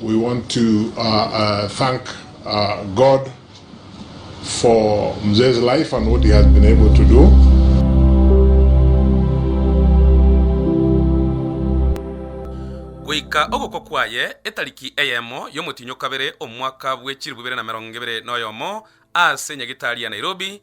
We want to thank God for Mzee's life and what he has been able to do. Goika ogokwa kwaye, etariki eyemo y'omotiny'okabere omwaka bwe chilifu ibere na merongo ebere noyomo, aase Nyagetari ya Nairobi,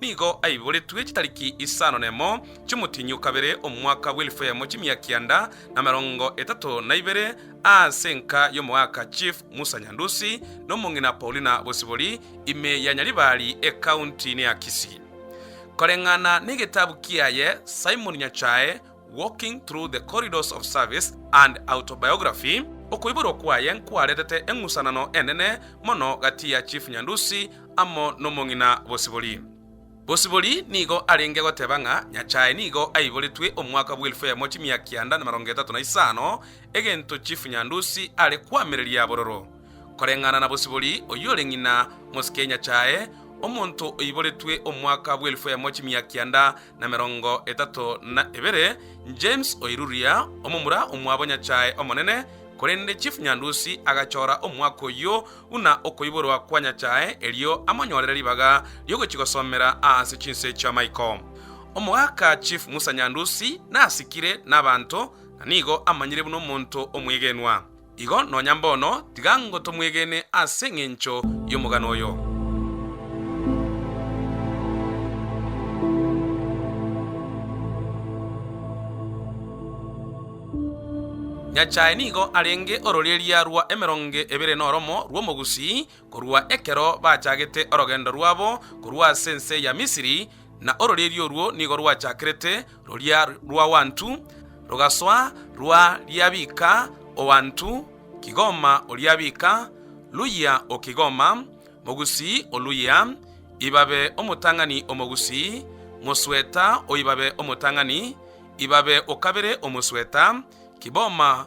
Nigo aiboretwe chitariki isano nemo chi'omotienyi o kabere, omwaka bw'elfu eyemo chimia kianda na emerongo etato na ibere, aase enka y'omogaaka Chief Musa Nyandusi na omong'ina Paulina Bosibori, ime ya Nyaribari, ekaunti ne ya Kisii. Koreng'ana n'egetabu kiaye, Simon Nyachae, Walking Through the Corridors of Service and Autobiography, Okoiborwa kwaye nkwaretete eng'usanano enene mono gati ya Chief Nyandusi amo n'omong'ina Bosibori. Bosibori nigo arenge goteba ng'a Nyachae nigo aiboretwe omwaka bw'elfu eyemo chimia kianda na emerongo etato na isano, egento Chief Nyandusi are koamereria bororo. Koreng'ana na Bosibori, oyio ore ng'ina mosike Nyachae, omonto oiboretwe omwaka bw'elfu eyemo chimia kianda na merongo etato na ebere, James oiruria, omomura omwabo Nyachae omonene, korende Chief Nyandusi agachora omwaka oyio buna okoiborwa kwa Nyachae erio amonyorere ribaga riogochigosomera aase chinse chiamaiko. Omogaka Chief Musa Nyandusi nasikire nabanto na nigo amanyire buna omonto omwegenwa. Igo nonya mbono tiga ngotomwegene ase engencho y'omogano oyo. Nyachae nigo arenge ororeria rwa emeronge ebere noromo rw'omogusii Korwa ekero bachagete orogendo rwabo korwa ase ense ya Misiri, na ororeeria orwo nigo rwachakerete roria rw'awantu, rogasoa rwa riabika o wantu, kigoma o riabika, luyia o kigoma, mogusii o luyia, ibabe omotang'ani o mogusii, mosweta o ibabe omotang'ani, ibabe o kabere o mosweta, kiboma,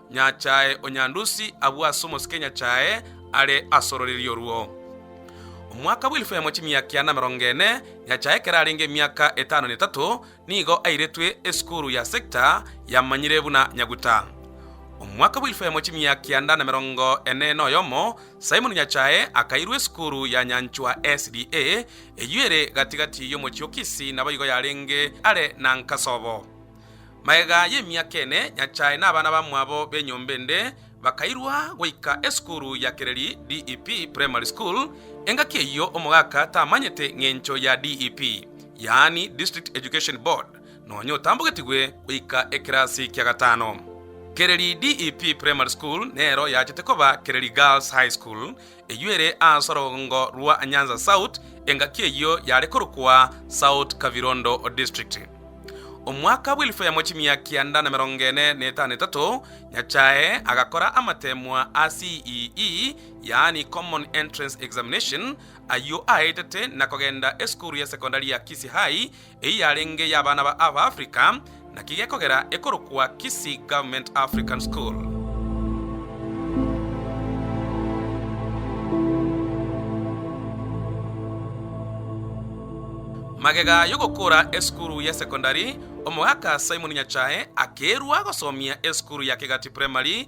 Nyachae o Nyandusi abue ase omosike Nyachae are ase ororiri orwo. Omwaka bw'elfu yamo chimia kiana emerongo ene, Nyachae ekero arenge emiaka etano na etato, nigo airetwe esukuru ya Sekta yamanyire buna Nyaguta. Omwaka bw'elfu yamo chimia kianda na emerongo ene na oyomo, Simon Nyachae akairwa esukuru ya Nyanchwa SDA, eyio ere gati gati y'omochie o Kisii naboigo yarenge are na Nkasobo. Magega y'emiaka ene, Nyasae na abana bamwabo b'enyomba ende bakairwa goika esukuru ya Kereri DEP Primary School. Engaki eyio omogaka tamanyete ng'encho ya DEP, yaani District Education Board, nonya otambogetigwe goika ekerasi kia gatano. Kereri DEP Primary School nero yachete koba Kereri Girls High School Eyio ere ase orogongo rwa Nyanza South, engaki eyio yare korokwa South Kavirondo District. Omwaka bw'elfu yamo chimia kianda na emerongo ene na etano etato, Nyachae agakora amateemwa a CEE, yaani Common Entrance Examination, ayio aetete na kogenda esukuru ya sekondari ya Kisii High, Eyio yarenge y'abana ba Ava Africa, naki gekogera ekorokwa Kisii Government African School. Magega y'ogokora esukuru ye secondary, Omogaka Simon Nyachae akeirwa gosomia esukuru ya Kegati Primary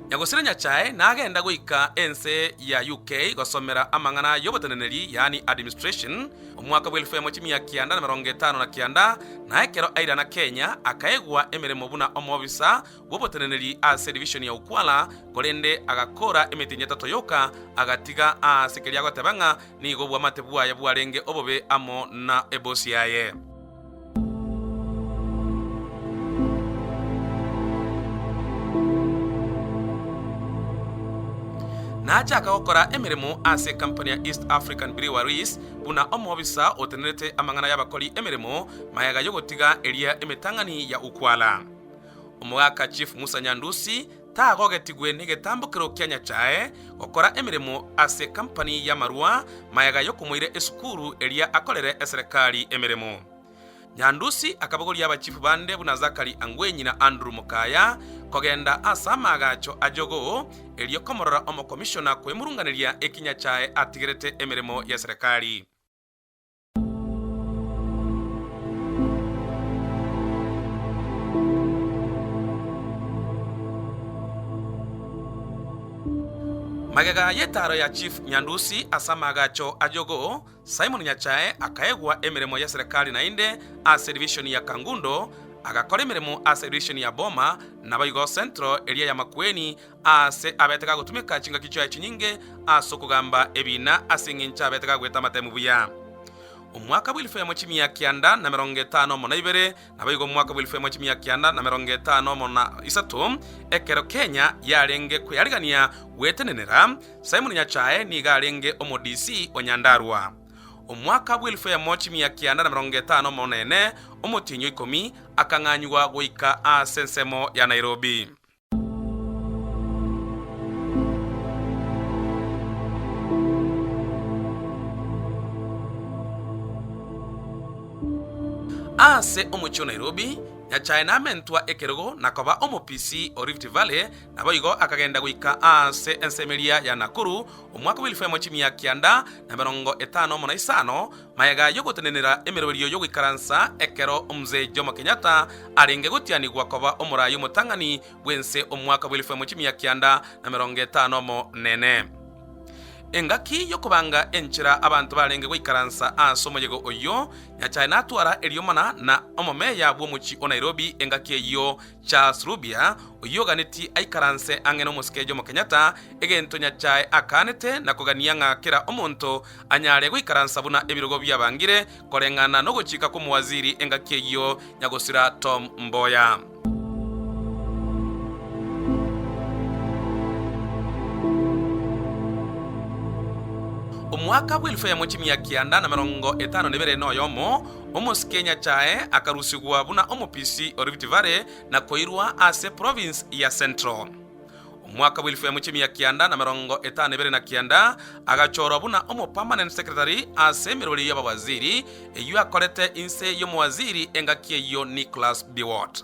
Nyagosire Nyachae nagenda goika ense ya UK gosomera amang'ana y'oboteneneri, yaani administration, omwaka bw'elfu emo chimia kianda na merongo etano na kianda, na ekero airana Kenya akaegwa emeremo buna omobisa bw'oboteneneri ase division ya Ukwala, korende agakoora emetinyi etato yoka, agatiga aase keria agoteba ng'a nigo obwamate bwaye bwarenge obobe amo na ebosi yaye. Nachaka gokora emeremo ase ekampuni ya East African Breweries buna omobisa otenerete amang'ana y'abakori emeremo mayega y'ogotiga eria emetang'ani ya Ukwala. Omogaka Chief Musa Nyandusi Tagogetigwe negetambo keroo kia nyachae gokora emeremo ase kampani y'amarwa mayega y'okomoira esukuru eria akorere eserekari emeremo. Nyandusi akabogoria abachifu bande buna Zakari Angwenyi na Andrew Mokaya kogenda ase amaagacho a jogoo erio komorora omokomishona kwemurunganeria eki nyachae atigerete emeremo y'eserekari. Magega y'etaaro ya chief Nyandusi ase amaagacho a Jogoo, Simon Nyachae akaegwa emeremo ye serekari naende ase division ya Kangundo, agakora emeremo ase edivision ya Boma, naboigo Central eria ya Makueni, Aase abete gagotumeka chingaki chiaye chinyinge as'okogamba ebiina as'engencho abete gagweta amatemu buya. Omwaka bw'elfu emo chimia kianda na merongo etano mo na ibere, naboigo omwaka bw'elfu emo chimia kianda na merongo etano mo na isato, ekero Kenya yarenge kweyarigania gwetenenera, Simon Nyachae nigo arenge Omo-DC o Nyandarua. Omwaka bw'elfu emo chimia kianda na merongo etano mo na ene, Omotienyi o ikomi akang'anywa goika as'ensemo ya Nairobi. Ase omochie o Nairobi, Nyachae namentwa ekerogo na koba omopisi o Rift Valley, naboigo akagenda goika ase ensa emeria ya Nakuru omwaka bw'elfu emo chimia kianda na emerongo etano mo na isano, Mayega y'ogotenenera emeroberio y'ogoikaransa ekero Mzee Jomo Kenyatta arenge gotianigwa koba omoraai omotang'ani bw'ense omwaka bw'elifu emo chimia kianda na merongo etano omonene. Engaki y'okobanga enchera abanto barenge goikaransa ase omoyega oyio, Nyachae natwara erioma na na omomeya bw'omochie o Nairobi engaki eyio Charles Rubia oyio oganetie aikaranse ang'e n'omosike Jomo Kenyatta egento Nyachae akaanete na kogania ng'a kera omonto anyare goikaransa buna ebirogo biabangire koreng'ana nogochika kw'omowaziri engaki eyio, Nyagosira Tom Mboya. Omwaka bw'elfu eyemo chimia kianda na merongo etano nebere noyomo, omosike Nyachae akarusigwa buna omopisi o Rift Valley na koirwa ase province ya Central. Omwaka bw'elfu yamo chi'emia kianda na emerongo etano na ebere na kianda, agachorwa buna omopermanent secretary ase emerweri y'abawaziri, eyio akorete inse y'omowaziri engaki eyio Nicholas Biwott.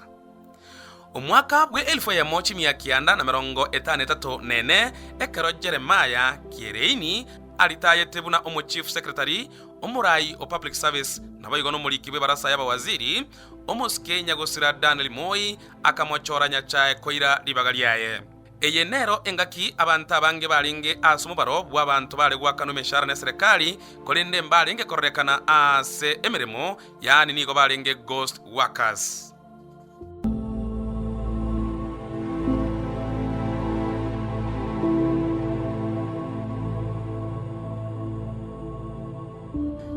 Omwaka bw'elfu yamo chi'emia kianda na emerongo etano na etato na ene, ekero Jeremiah Kiereini aritayete buna omochief secretary, omoraai o public service, naboigo nomoriki bw'ebarasa y'abawaziri, omosike nyagosira Daniel Moi akamochora Nyasae koira ribaga riaye. Eye nero engaki abanto abange barenge as'omobaro bw'abanto bare goakanwa emeshara n'eserekari, korende mbarenge kororekana ase emeremo, yaani nigo barenge ghost workers.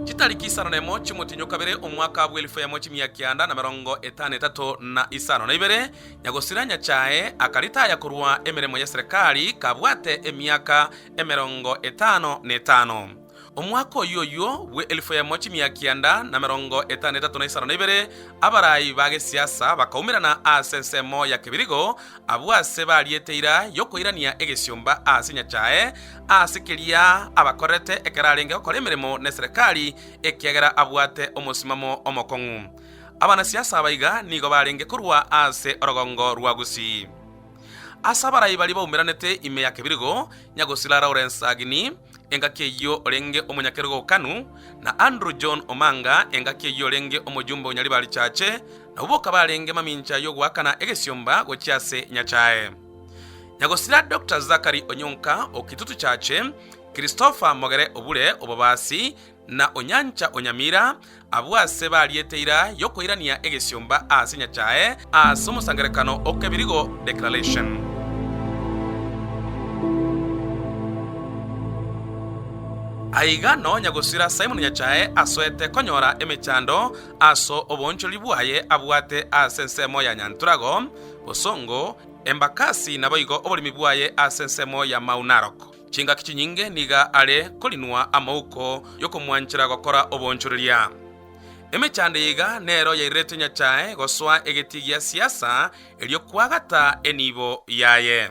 Chitariki isano na emo chi'omotienyi o kabere, omwaka bw'elfu yamo chimia kianda na merongo etano etato na isano na ibere, nyagosira Nyachae akaritaya korwa emeremo y'eserekari kabwate emiaka emerongo etano na etano. Omwaka oyio oyio bw'elfu yamo chimia kianda na merongo etano etato na isano na ibere, abarai ba gesiasa bakaumerana ase ensemo ya kebirigo, abwo aase bariete ira y'okoirania egesiomba ase Nyachae, Ase keria abakorerete ekero arenge gokora emeremo n'eserekari, ekiagera abwate omosimamo omokong'u. Abanasiasa abaiga nigo barenge korwa ase orogongo rwa Gusii. Ase abarai baria baumeranete ime ya kebirigo, Nyagosira Lawrence Agini, engaki eyio orenge omonyakerogo o KANU, na Andrew John Omanga, engaki eyio orenge omojumbe o Nyaribari Church, nabwo boka barenge mamincha y'ogoakana egesiomba gochia ase Nyasae. Na gosira Doctor Zachary Onyonka o Kitutu Church, Christopher Mogere Obure o Bobasi, na Onyancha o Nyamira, abwo aase bariete ira y'okoirania egesiomba aase Nyachae ase omosangererekano o Kebirigo Declaration. Aiga nonya gosira Simon Nyachae asoete konyora emechando aso oboonchorori bwaye abwate aase ensemo ya Nyantorago, Bosongo, embakasi naboigo oborimi bwaye ase ensemo ya mau narok. Chingaki chinyinge niga are korinwa amouko y'okomwanchera gokora obonchoreria. Emechando eyeiga nero yairerete Nyachae gosoa egetii gia siasa erio kwagata enibo yaye.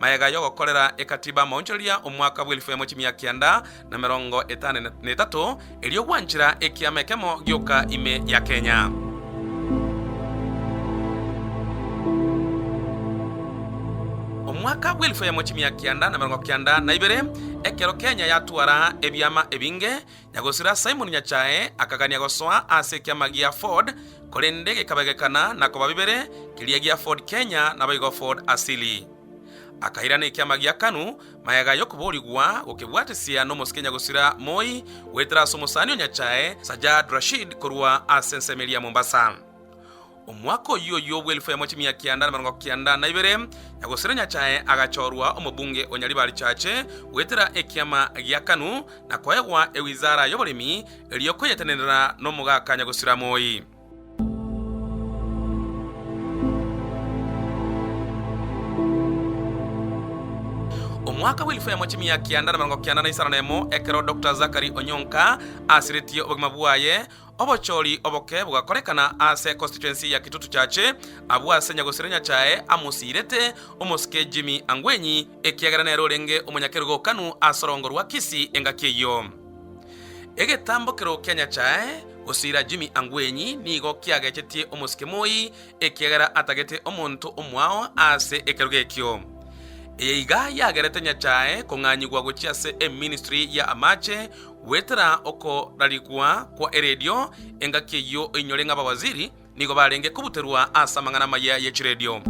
Mayega y'ogokorera ekatiba maonchoreria omwaka bw'elifu emo chimia kianda na emerongo etano na etato, erio gwanchera ekiama ekemo gioka ime ya Kenya. Omwaka bw'elifu emo chimia kianda na emerongo kianda na ibere, ekero Kenya yatwara ebiama ebinge, Na gosira Simon Nyachae akagania gosoa ase ekiama gia Ford, korende gekabegekana na koba bibere, keria gia Ford Kenya naboigo Ford Asili. Akairana ekiama gia Kanu magega y'okoboorigwa gokebwatesia nomosike nyagosira moi goetera ase omosani o Nyachae Sajjad Rashid korwa ase ensemo eria Mombasa. Omwaka oyio oyio bw'elfu yamo chimia kianda namerongo kianda na ibere, Nyagosera Nyasae agachorwa omobunge o Nyaribarichache goetera ekiama gia Kanu, na koegwa ewizara y'oboremi, erio koyetenenera nomogaka Nyagosira Moi. Omwaka bw'elfu yamo chimia kianda namerongo kianda na isano nemo, ekero Dr. Zachary Onyonka asiretie obogima bwaye, Obochori oboke bogakorekana ase constituency ya Kitutu Chache, abwo ase nyagosire Nyachae amosiirete omosike Jimmy Angwenyi ekiagera nere orenge omonyakerugokanu ase orogongo rwa Kisii engaki eyio. Egetambokero kia Nyachae gosiira Jimmy Angwenyi nigo kiagechetie omosike Moi ekiagera atagete omonto omwao ase ekerogo ekio. Eye iga yagerete Nyachae kong'anyigwa gochia ase eministry ya amache Goetera okorarigwa kwa eredio, engaki eyio einyore ng'a abawaziri nigo barenge kobuterwa ase amang'ana amaya ye chiredio.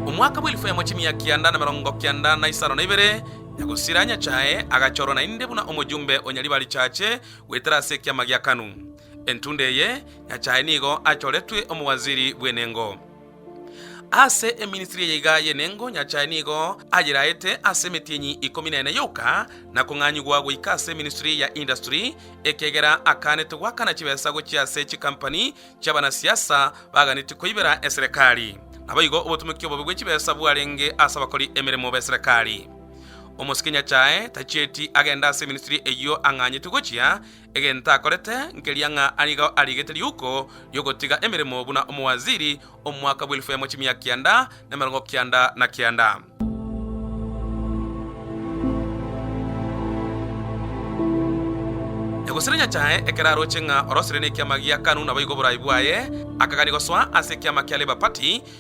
Omwaka bw'elfu yamo chimia kianda na emerongo kianda na isano na ibere, Nyagosira Nyasae agachorwa naende buna omojumbe o Nyariba Richache goetera ase ekiama gia Kanu. Entunda eye, Nyasae nigo achoretwe omowaziri bw'enengo. Ase eminstry eye iga y'enengo Nyasae nigo ayeraete ase emetienyi ikomi na ene yoka na kong'anyigwa goika ase eminstry ya industry, ekiagera akaanete goakana chibesa gochia ase chikampani chi'abanasiasa baganetie koibera eserekari. Naboigo obotomeki obobe bwe chibesa bwarenge ase abakori emeremo b'eserekari. Omosike Nyasae tachieti agende ase eminstry eyio ang'anyete gochia, Egento akorete nkeria ng'a ari iga ariigete riuko ri'ogotiga emeremo buna omowaziri omwaka bw'elifu yamo chimia kianda nemerongo kianda na kianda. Egosire Nyasae ekero aroche ng'a orosire nekiama gia Kanu naboigo oboraai bwaye, akagania gosoa ase ekiama kia Labour Party,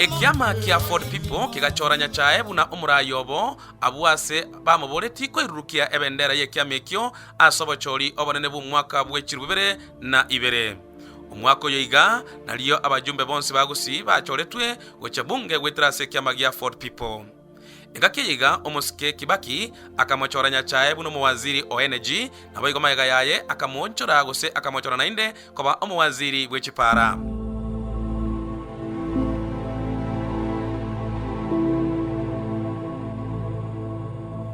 Ekiama kia Ford People kegachora Nyachae buna omoraai obo abwo ase bamoboreti koirurukia ebendera y'ekiama ekio ase obochori obonene bw'omwaka bwe chiruu bibere na ibere. Omwaka oyo iga nario abajumbe bonsi ba Gusii bachoretwe gochia Bunge goetera ase ekiama gia Ford People. Egaki eyiga omosike Kibaki akamochora nyachae buna omowaziri o energy, naboigo magega yaye akamoonchora gose akamochora naende koba omowaziri bwe chipara.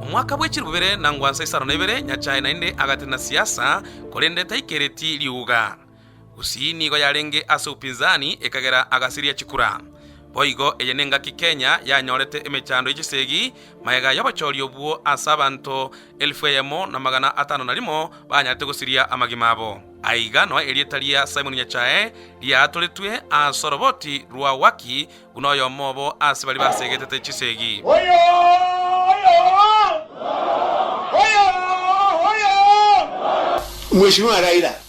Omwaka bwe chilifu bibere na ngwansa isano na ibere nyachae naende agatenena siasa korende taikereti riuga. Usi nigo yarenge ase upinzani, ekagera agasiria chikura. Boigo eye nengaki Kenya yanyorete emechando ye chisegi, magega y'obochori obwo ase abanto elfu eyemo na magana atano na rimo banyarete gosiria amagima abo. Aiga noe erieta ria Simon Nyachae riaatoretwe ase oroboti rwa Waki buna oyomo obo ase baria basegetete chisegi. Mheshimiwa Raila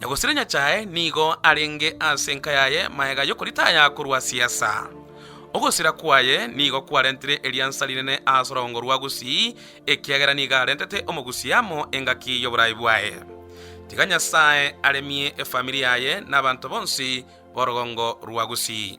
Na gosira Nyasae nigo arenge ase enka yaye magega y'okoritaya korwa siesa. Ogosira kwaye nigo kwarentire eriansa rinene ase orogongo rwa Gusii, ekiagera nigo arentete omogusia amo engaki y'oboraai bwaye. Tiga Nyasae aremie efamiri yaye na abanto bonsi b'orogongo rwa Gusii.